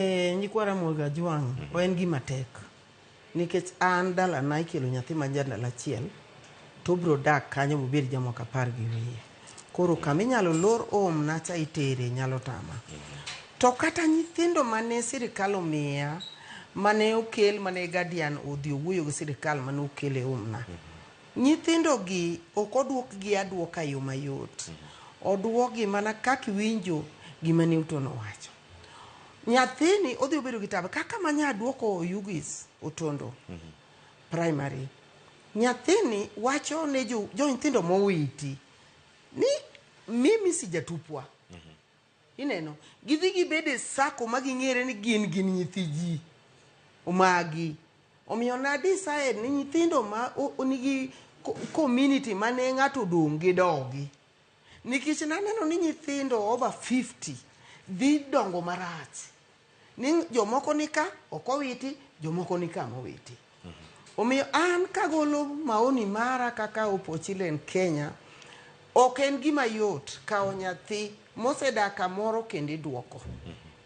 E, nyikwa Ramogi Ajwang' mm -hmm. en gima tek nikech an dalana ikelo nyathi ma jandalo achiel to obiro dak kanyo mobed jamoko apar gi wiye koro kama inyalo lor om na cha itere nyalo tama to kata nyithindo mane sirikal omiya mane okel mane guardian odhi owuoyo gi sirikal mane okel e omna mm -hmm. Nyithindogi ok odwokgi adwoka yo mayot, odwokgi mana kaka iwinjo gima Newton owacho. Nyathini odhi obedo gi tabu kaka ma nya duoko Oyugis Otondo primary. Nyathini wacho ne jo jo nyithindo mowiti ni mimi si jatupwa. Ineno, gidhi gibed e sako ma ging'ere ni gin gin nyithi ji. Omagi. Omiyo na decide ni nyithindo ma o- o- nigi co- community mane ng'ato odong' gi dogi. Nikech naneno ni nyithindo over 50 dhi dongo marach. Ni jomoko nika ok owiti, jomoko nika mowiti. Omiyo an kagolo maoni mara kaka Opochilen Kenya, ok en gima yot kawo nyathi mosedak kamoro kendo iduoko.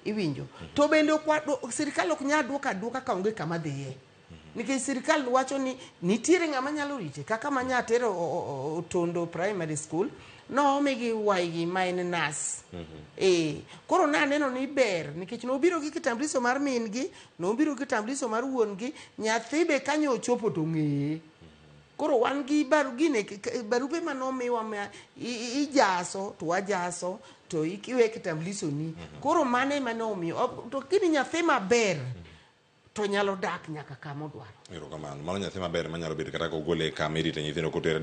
Iwinjo? To bende ok wa, sirkal ok nyal duoko aduoka kaonge kama dhiye. nikech sirikal wacho ni nitiere ng'ama nyalo rite kaka ma nyatere o- o- o- otondo primary school nomigi waigi ma en nas ee koro naneno ni ber nikech nobiro gi kitambuliso mar min gi nobiro gi kitambuliso mar wuon gi nyathi be kanye ochopo to ng'eye koro wan gi baru gine k- k- barupe ma nomiwa ma i- i- ijaso to wajaso to ikiwe kitambuliso ni koro mano ema nomiyo to kini nyathi maber to nyalo dak nyaka kama odwaro. Erokamano. Mano nyathi maber manyalo bedo kata kogole kama irite nyithindo kotere